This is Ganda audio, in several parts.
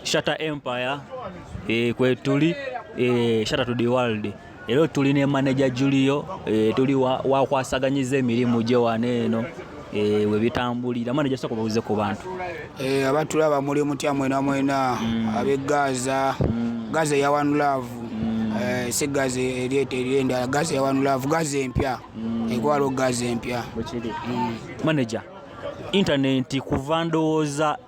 Shata Empire e, kwetuli e, Shata to the world era tuli ne manager Julio e, tuli wakwasaganyiza wa emirimu gye wano eno e, we bitambulira manager sako babuze ku bantu e, abantu laba muli mutya mwena mwena mm. abe Gaza mm. Gaza ya one love mm. e, si Gaza erieta erienda Gaza ya one love Gaza empya mm. ekwalo Gaza empya mm. manager intaneti kuva ndowooza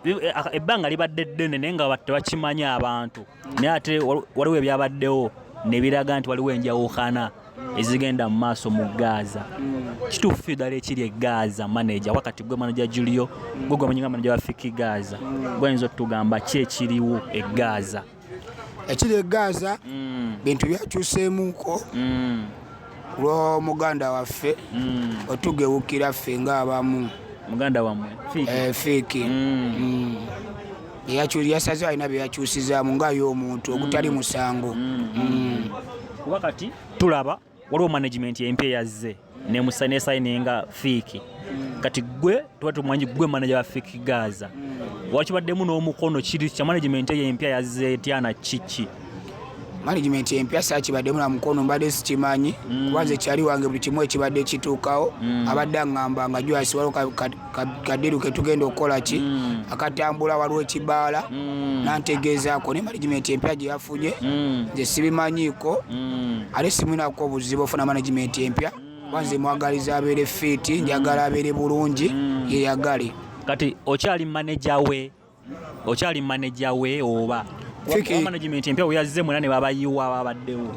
ebbanga libadde ddene naye nga tebakimanyi abantu naye ate waliwo ebyabaddewo ne biraga nti waliwo enjawukana ezigenda mu maaso mu gaaza kituufu ddala ekiri egaaza maneja wakati gwe maneja julio gwe gwemanyi nga maneja wa fiki gaaza gweayinza otugamba ki ekiriwo egaaza ekiri e gaza mm. bintu byakyuseemuuko mm. lw'omuganda waffe mm. otugewukira ffe ng'abamu muganda wamwe fiiki eh, yasaze alina byeyakyusizaamu nga ye omuntu ogutali musango kuba kati tulaba waliwo management empya yazze nesayininga fiiki kati gwe tuba tumwanyi gwe manaja wa fiiki gaza wakibaddemu n'omukono kiri kya management eyo empya yazze etyana kiki management empya sakibaddemu na mukono mbadde sikimanyi mm. kubanze kyali wange buli kimu ekibadde kituukawo mm. abadde aŋamba nga jwasiwalo kadiru ketugenda okukola ki mm. akatambula waliwo ekibaala mm. nantegeezaako ne management empya gye yafunye mm. nze sibimanyiiko ate simunako obuzibu ofuna management empya wanze mwagaliza abeere fiiti njagala abeere bulungi yeyagale kati okyali maneja we okyali maneja we oba management empya weyazze mwena ne babayiwa babaddewo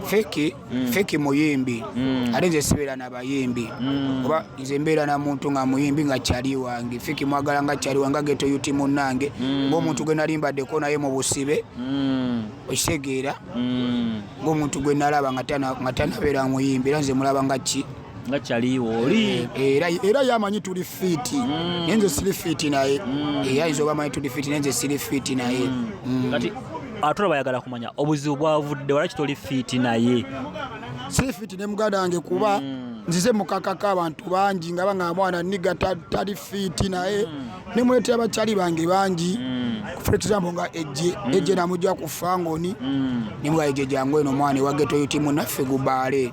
feki mm. feki muyimbi mm. ate nze sibeera na bayimbi mm. oba nze mbeera na muntu nga muyimbi nga kyali wange feki mwagala nga kyali wange ageto yuti munange mm. ngaomuntu gwe nali mbaddeko naye mu busibe mm. okitegeera mm. ngaomuntu gwe nalaba nga tanabeera muyimbi era nze mulaba nga ki nga kyaliwo oli eh, eh, era era yamanyi tuli fiti mm. nenze siri fiti naye mm. era eh, izo bamanyi tuli fiti nenze siri fiti naye mm. kati atula bayagala kumanya obuzibu bwavudde wala kitoli fiti naye siri fiti ne muganda wange kuba nzize mukakaka abantu bangi nga banga mwana niga tali fiti naye ne mwete abakyali bange bangi for example nga ejje ejje namujja ku fangoni ne mwa ejje jangu eno mwana wa geto yutimu naffe gubaale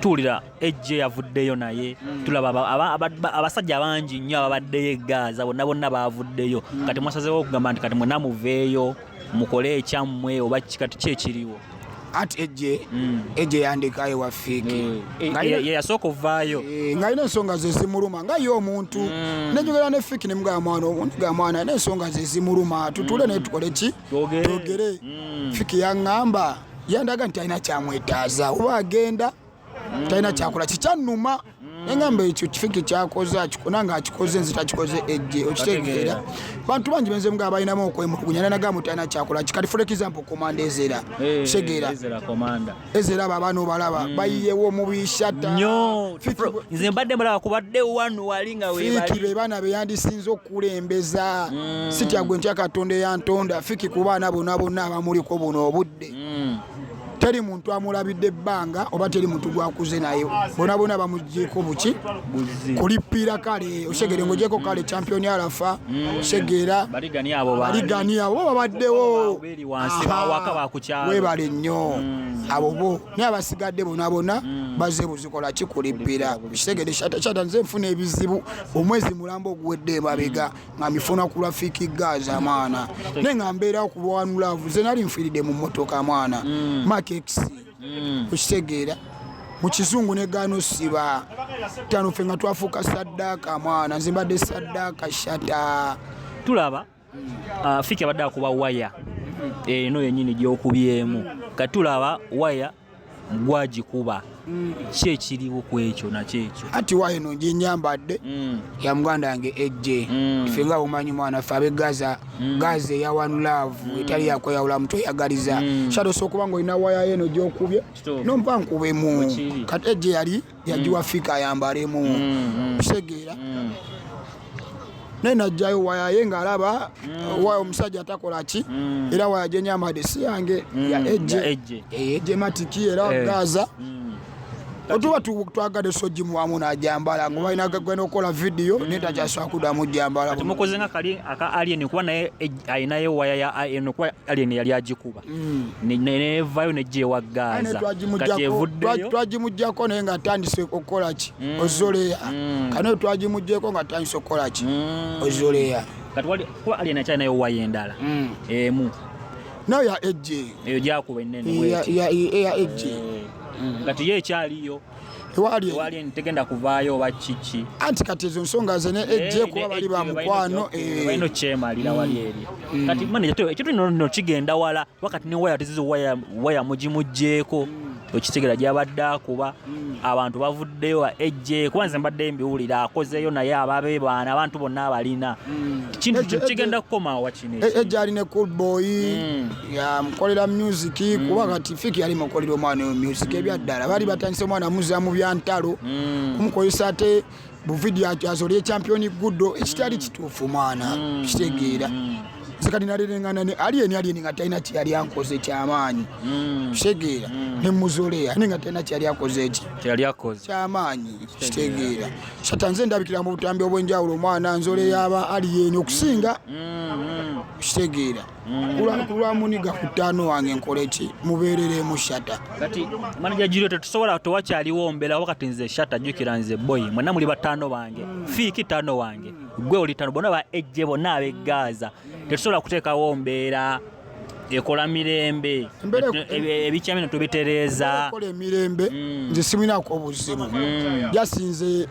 tuwulira ejje yavuddeyo naye mm. tulaba abasajja abangi nnyo ababaddeyo egaaza bonna bonna baavuddeyo mm. kati mwasazewo okugamba nti kati mwena muveeyo mukole ekyammwe oba kikati kyekiriwo ati ejje mm. ejje yandika ewafiki mm. yeyasooka ovaayo eh, ngaalina ensonga zezimuluma nga ye omuntu mm. nenjogera ne fiki nemugaba mwana omuntu ga mwana alina ensonga zezimuluma tutule naye tukole ki twogere fiki yaŋŋamba yandaga nti talina kyamwetaaza oba agenda mm. talina kyakola kikyannuma mm. engamba ekyo kifiki kyakoze akikona nga akikoze nze takikoze ejje okitegeera bantu bangi benze nga balinamu okwemulugunya nanaga mu talina kyakola kikati for example komanda ezera eh, kitegeera ezera abo abaana obalaba mm. bayiyewo omubishata nze mbadde mulaba kubadde wanu wali nga webali be baana beyandisinza kulembeza mm. sitya gwe ntya katonda eyantonda fiki ku baana bona bonna abamuliko buno obudde mm. teri muntu amulabidde ebbanga oba teri muntu gwakuze naye bona bona bamugyeko buki kulipiira kale osegere mm. ngogyeko kale champion alafa mm. segera baligani abo babaddewo webale nnyo mm. abo bo naye abasigadde bona bona mm. baze buzikola kikulippira kitegede shata nze nfuna ebizibu omwezi mulamba oguwedde emabega mm. nga mifuna ku rafiki gaza mwana naye nga mbeera kulwanulavu ze nali nfiiridde mu motoka mwana mm. makex okitegeera mu kizungu negaana osiba tano fe nga twafuuka saddaaka mwana nze mbadde saddaaka shata tulaba Ah, fiki abadde akuba waya eno eh, yenyini gyokubyemu kati tulaba waya gwagikuba ki ekiriwo ku ekyo nakyekyo ati wa eno gyenyambadde mm. ya muganda yange ejje mm. fe nga umanyi mwana fe abe gaza mm. gaza eya one love etali yakweyawula mutwe oyagaliza shadosa okuba nga olina waya yeno gyokubye nompa nkubemu kati ejje yali yagiwa mm. fika ayambalemu mm, kitegeera mm. naye najjayo wayaye nga alaba mm. wayo omusajja atakola ki mm. era waya gyenyambadde si yange mm. ya ejje ejje matiki era eh. gaza otuba twagadde sogimuwamu najambala nga balina gagenda okukola vidiyo naye takyasobola kudamu jambala mukoze nga kali aka alien kuba naye eh, alinayo waya ya alien kuba alien yali agikuba mm. nevayo nejewa gaza kati evuddeyo twagimugyako naye nga atandise okukola ki mm. ozoleya mm. kanayo twagimugyeko nga atandise okukola ki ozoleya kati wali kuba ali enakyali nayo wayi endala emu nayo ya ejje eyo gyakuba enene ya ejje kati ye ekyaliyo tewali tegenda kuvaayo oba kiki anti kati ezo nsonga ze ne eh, ejje eh, kuba bali ba mukwano eh. balino kyemalira wali mm. eri mm. kati manaje to ekitu no no kigenda wala wakati ne waya tizizo waya waya muji mujeko mm. okitegera gyabadde akuba abantu bavuddeyo ejje kuba nze mbadde mbiwulira akozeeyo naye ababe baana abantu bonna abalina kintu kigenda kukomawo wakinejja ali ne cool boy ya mukolera music mm. kuba kati fiki yali mukolera omwana oyo music mm. ebyaddala bali batandise omwana muza mu byantalo mm. kumukozesa ate buvidiyo akyazolya ekyampiyoni guddo ekitali mm. kituufu mwana mm. kitegeera mm. sekati nalirengana ne aliyeni aliyeni nga talina kyeyali ankoze kyamaanyi mm. kitegeera mm. ne muzoleya ne nga talina kyeyali akoze eki kyamaanyi kitegeera sata nze ndabikira mu butambi obwenjawulo omwana nzoleya aba aliyeni okusinga kitegeera mm. kulwa muniga ku ttaano wange nkole ki mubeereremu shata kati manaja jirio tetusobola tewakyaliwo mbeera wakati nze shata jjukira nze boyi mwena muli bataano bange mm. fiiki ttaano wange gwe oli ttaano bona ba ejje bonna abegaaza tetusobola kuteekawo mbeera ekola mirembe ebikyamino tubitereeza kola emirembe mm. nze simuinako obuzimu mm. jasinze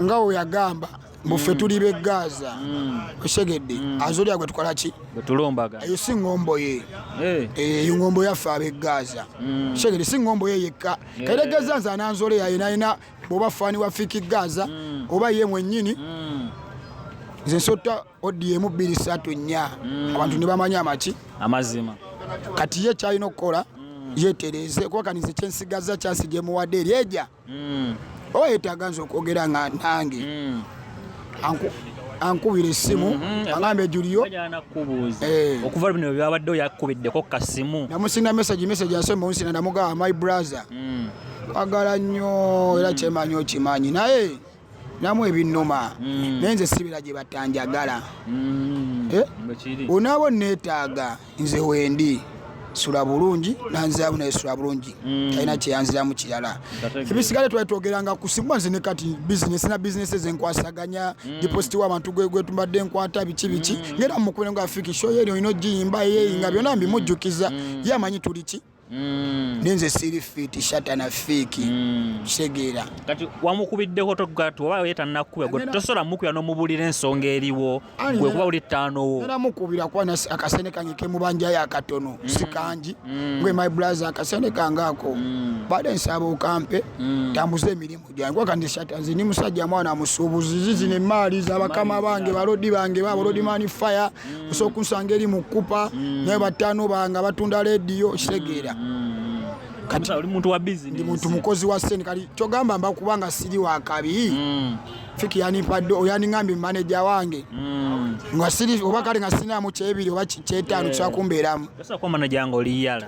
nga weyagamba buffe tuli be gaza mm. osegedde mm. azolya gwe tukola ki bwetulumbaga eyo si ngombo ye eh. Eh, eyo ngombo yaffe abe gaza mm. osegedde si ngombo ye yekka eh. kaire gaza nze ananzole yaye nayina bwoba fani wa fiki gaza oba ye mwenyini nze nsotta odiemu bbiri satu nnya abantu nebamanya amaki amazima kati ye kyalina okukola yetereeze kuba kanize kyensigaza kyasi gyemuwadde eryeja mm. oba yetaaga nze okwogera nga nange mm. ankubira essimu mm-hmm. agamba ejuliyo eh. okuva bino byabadde oyakubiddeko kasimu namusinga mesaji mesaji asoma onsina namugamba my brother mm. kwagala nnyo era kyemanyi okimanyi naye namu ebinnuma mm. naye nze sibira gye batanjagala mm. eh? onaaba onneetaaga nze wendi sula bulungi nanziramu naye sula bulungi mm. talina kyeyanziramu kirala ebisigale twali twogeranga ku simu nze ne kati bizinesi na bizinesi ezenkwasaganya dipositi wabantu gwetumbadde nkwata biki biki ngaera mukubire nga fiki shoyeri olina ogiyimba eyeyi nga byonna mbimujjukiza ye amanyi tuli ki Mm. ninze siri fiti shatana fiki mm. kitegeera kati wamukubiddeko togati oba oye tanakuba gwe tosobola mukubira nomubulira ensonga eriwo gwe kuba uli ttaanowo era mukubira kuba akasene kange kemubanjayo akatono mm. sikangi gwe my brother akasene kange ako bade nsaba okampe tambuze emirimu Jangu kandi shata nze ndi musajja mwana musuubuzi zizino emmaali za bakama bange balodi bange ba balodi mani fire osobola okunsanga eri mu kkupa naye bataano bange abatunda leediyo kitegeera kati oli muntu wa business ndi muntu mukozi wa sente kati kyogamba mba kuba nga siri wa kabi Mm, fiki yanimpadde oyaningambye maneja wange mm. nga siri oba kale nga sirinamu kyebiri oba ki- kyetaano kisobola kumbeeramu Sasa kwa manager wangu oliyala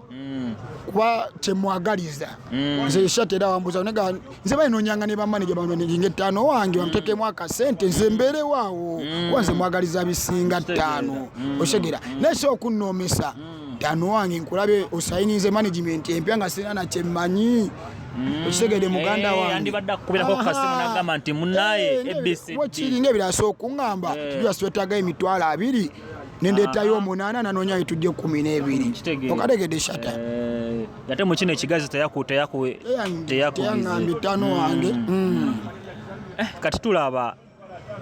Mm. kuba kyemwagaliza mm. nze shati era wambuza nega nze balinonyanga ne bamaneja bamaneja ettaano wange mm. bamtekemu akasente nze mbeerewo awo kuba nze mwagaliza bisinga ttaano oshegera naye si okunnoomesa ttaano wange nkulabe osayinize management empya nga sirina nakyemmanyi okitegede muganda eh, wandibadde akukubirako kukasimu nagamba nti munaye eh, ebc wekiringa ebirasa okuŋŋamba eh. tujaswetaga emitwalo abiri nendeetayo omunaana nanoonya yetujja ekumi n'ebiri okategedde shata eh, ate mu kino ekigazi teyakuteyakuteyakuambi tano mm. wange mm. eh, kati tulaba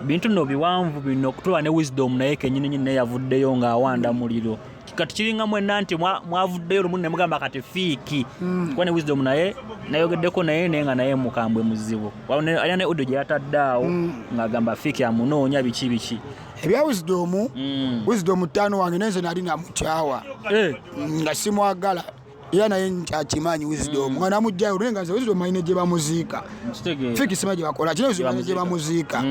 bintu no biwanvu bino kutuba ne wisdom naye kenyini nyini yavuddeyo nga awanda muliro kati kiringa mwenna nti mwavuddeyo lumu ne mugamba kati fiiki mm. kuba ne wisdom naye nayogeddeko naye naye nga naye mukambwe muzibu alina ne audio gye yatadde awo mm. ng'agamba fiiki amunoonya biki biki ebya wisdom mm. wisdom ttaano wange nenze nali namukyawa eh. mm, nga simwagala era naye akyimanyi wisdom mm. nga namugjayo naye nga nze wisdom ayina gye bamuziika fiiki sima gye bakola kina wisdom ayina gye bamuziika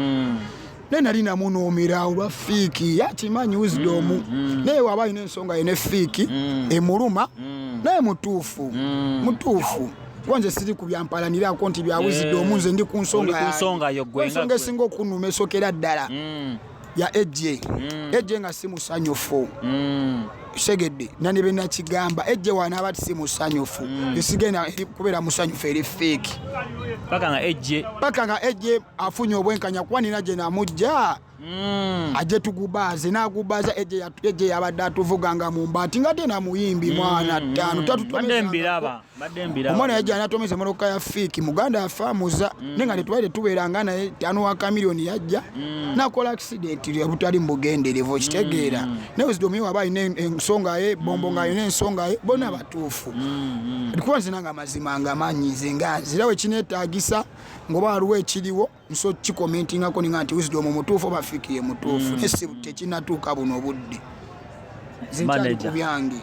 naye nali namunuumira olwa fiiki yakimanyi wisdom naye waba alina ensonga ye ne fiiki emuluma naye mutuufu mutuufu kuba nze siri ku byampalanirako nti byawuzidde eh. omu nze ndi ku nsonga ensonga esinga okunuma esokera ddala mm. ya ejje mm. ejje nga si musanyufu mm. segedde nani benakigamba ejje wanaaba ti si musanyufu esigenda kubeera musanyufu eri feeki paka nga ejje afunye obwenkanya kuba nina gye namujja Mm. aje tugubaaze nagubaaza eje yabadde atuvuga nga mumbaati nga tena muyimbi mm. mwana ttaano omwana yajja natomeza emotoka ya fiiki muganda yafaamuza mm. naye nga tetwali tetubeera nga naye tano wa kamiliyoni yajja nakola akisidenti butali mubugenderevu okitegeera naye wezidomiyo waba alina ensonga ye bombo nga alina ensonga ye bona batuufu kuba nzina nga mazima nga manyi nze nga nzirawo ekinetagisa ngoba waliwo ekiriwo nso kikomentingako ninga nti wisdom omutuufu oba fiki ye mutuufu mm. nesi tekinatuuka buno obudde zinkyali ku byange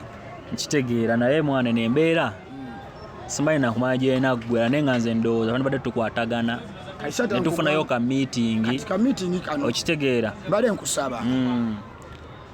nkitegeera naye mwana eno embeera mm. simanyi nakumanya gyenaggwera naye nga nze ndowooza bani badde tukwatagana netufunayo ka meeting okitegeera bale nkusaba mm.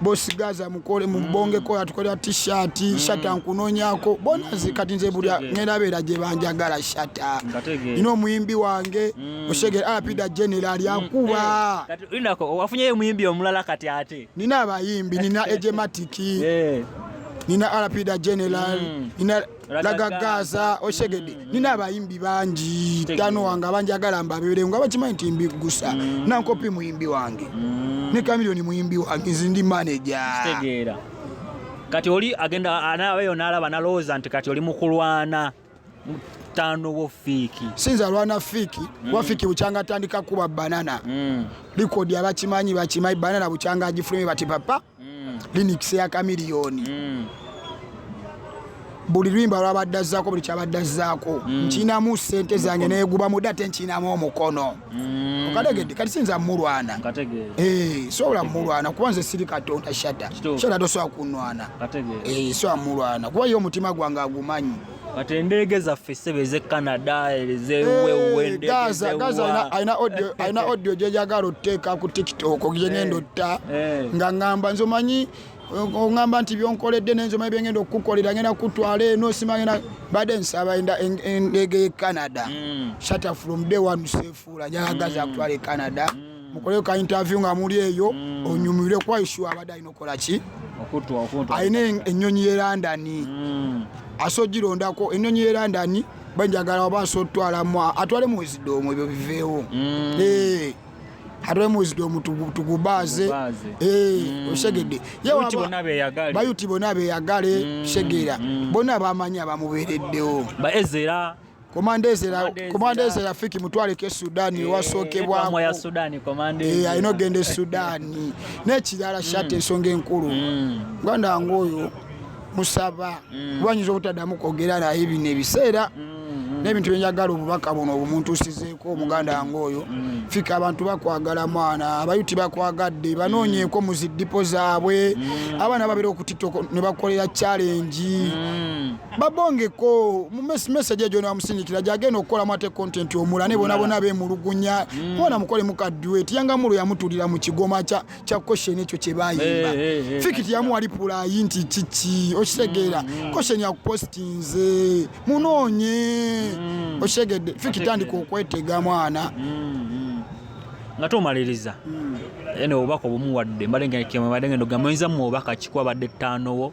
bosi gaza mukole mubongeko yatukolera t-shirt mm. shata nkunonyako bona nze kati nze buli ngenda beera gye banjagala shata ina omuyimbi wange mm. oshegera alapida general mm. yakuba eh, wafunyeyo omuyimbi omulala kati ate nina abayimbi nina ejematiki eh. nina alapida general nina lagagaaza oshegede mm. nina abayimbi bangi tano wange abanjagala mbabeere nga bakimanyi nti mbiggusa mm. nankopi muyimbi wange mm. ne kamilioni muyimbi wange nzi ndi maneja kati oli agenda anabeyo nalaba nalowooza nti kati oli mukulwana tano wo fiiki sinza lwana fiiki mm. wafiiki bukyanga atandika kuba banana mm. likodi abakimanyi bakimanyi banana bukyanga agifulume bati papa mm. linux ya kamiliyoni mm. buli lwimba lwabadde azzaako buli kyabadde azzaako mm. nkinamu sente zange neguba mude ate nkinamu omukono mm. okategedde kati sinza mulwana eh, sobola mulwana kuba nze siri katonda shata shata tosobola kunwana eh, sobola mulwana kuba ye omutima gwange agumanyi Kati endeege zaffe ssebo ez'e Canada ez'ewewendegezewaalina eh, audio gye njagala oteeka ku TikTok gye ngenda eh, otta eh. nga ngamba nze omanyi ongamba nti byonkoledde nenzoma byengenda okukukolera ngenda kutwala eno simagenda badde nsaba endeege ye canada mm. shata from day one sefuula njagagaza mm. kutwala e canada mm. mukoleyo ka interview nga muli eyo mm. onyumirwe kwa issue abadde alina okukola ki alina ennyonyi ye london mm. ase ogirondako ennyonyi ye london banjagala oba ase otwalamu atwale muwizidoomu ebyo biveewo mm. eh, atwale muwizidoomu tugubaaze eh, osegedde bayuti bona beyagale segera bona bamanyi abamubeereddewo komanda eze rafiki mutwaleko esudani eh, ewasookebwako eh, alina ogenda esudani nekirala shati hmm. ensonga enkulu hmm. muganda wange oyo musaba hmm. kuba nyinza obutaddamu kwogera naye bino ebiseera n'ebintu byenjagala obubaka buno obumuntuusizeeko omuganda wange oyo mm. fika abantu bakwagala mwana abayuti bakwagadde banoonyeeko mm. mu ziddipo zaabwe mm. abaana babeera okutitoko ne bakolera challenge babongeko mumesage ejo namusindikira gyagenda okukolamu ate content omula ne bona bona bemulugunya mm. bona mukole mukaduet yangamulu yamutulira mu kigoma kya kya question ekyo kye bayimba hey, hey, hey, fikiti yamu wali pula yinti chichi okitegeera mm, mm. question ya postinze munonye mm. okitegedde fikiti andika okwetega mwana mm, mm. nga tomaliriza mm. ene obubaka obumuwadde mbadde ngenda ogamba oyinza mu obubaka kikuwa badde ttaanowo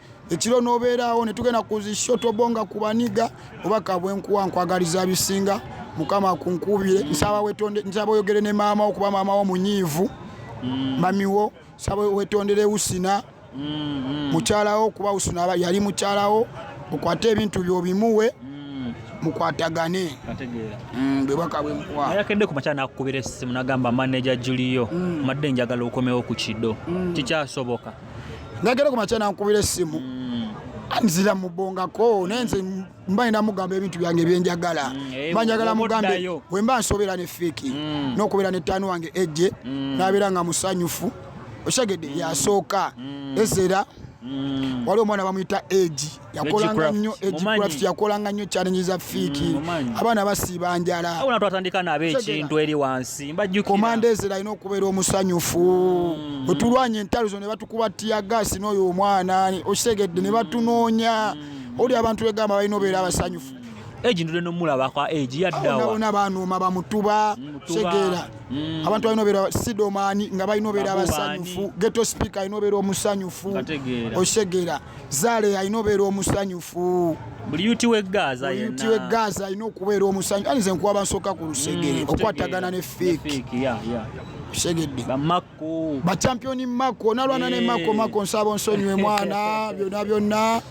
ekiro n'obeeraawo ne tugenda ku zi shotobonga ku baniga oba kabwenkuwa nkwagaliza bisinga mukama kunkuubire nsaba wetonde nsaba oyogere ne maama wo kuba maama wo munyiivu mm. mamiwo nsaba wetondere usina mm-hmm. mukyalawo kuba usina yali mukyalawo okwate ebintu byo bimuwe mm. mukwatagane mm, bwebaka bwemkuwayakedde ku makya nakukubira essimu nagamba maneja juliyo madde njagala okomewo ku kido kikyasoboka nagenda ku makya nankubira essimu mm. nzira mubongako naye nze mba nina mugamba ebintu byange byenjagala mm, eh, mba njagala mugambe wemba nsobeera ne fiiki mm. nokubeera ne taani wange ejje nabeera nga musanyufu okitegedde yasooka ezera waliwo omwana bamuyita egi yakolanga nnyo egicraft yakolanga nnyo challenge za fiiki mm, abaana basiiba njala abona twatandika nabo ekintu eri wansi mbajjukira komanda ezira alina okubeera omusanyufu mm. wetulwanya entalo zo ne batukuba tiya gaasi n'oyo omwana okitegedde ne batunoonya mm. oli abantu begamba balina obeera abasanyufu egi ndude nomulaba kwa egi yaddawaona banuuma bamutuba segera mm. abantu balina obeera sidomani nga balina obeera abasanyufu geto speaker alina obeera omusanyufu osegera zaale alina obeera omusanyufu buli yuti we gaaza Buli yuti we gaaza alina okubeera omusanyu ani nze nkuwaba nsooka ku lusegere mm, okwatagana ne fiiki segedde bachampioni mako nalwana ne mako eh. mako nsaba onsonyiwe mwana byonna byonna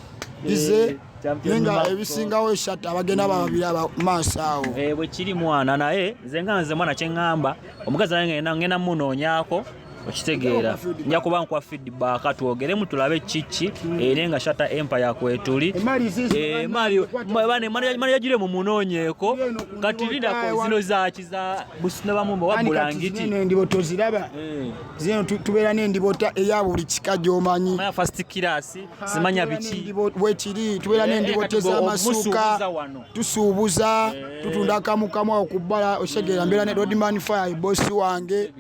ize eh, naye nga ebisingawo eshat abagenda bababiri abamaaso awo eh, bwekiri mwana naye nze nga nze mwana kyeŋŋamba omukazi naye ngenda munoonyako okitegeera nja kuba nkwa feedback twogeremu tulabe kiki ere nga shata empire kwetuli manaja gire mu munoonyeeko kati lidako zino zaki za busino bamumba wabulangiti endibo toziraba eh. zino tubeera n'endibota eya buli kika gyomanyi fast class ah, zimanya biki wekiri tubeera eh, n'endibota eh, ez'amasuuka tusuubuza tutunda kamukamu awo ku bbala osegeera mbeera ne rodman fire bosi wange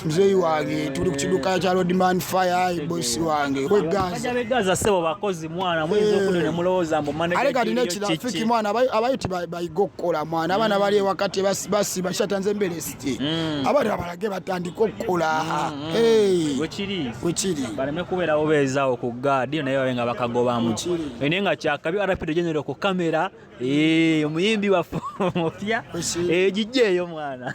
muzeeyi wange tuli ku kiduka kya rodman fire bosi wange kwegaza sebo bakozi mwana muyinza eh. okuda ne mulowooza mbu ale kati nekirafiki mwana abayiti bayiga okukola mwana abaana bali ewakati basiba kishata nze mbeera esiti mm. abali abalage batandika okukola mm, mm. wekiri baleme kubeerawo beezaawo ku gaadi naye babe nga bakagobamu naye nga kyakabi arapido genero ku kamera Eh, omuyimbi waffe omupya egijja eh, eyo mwana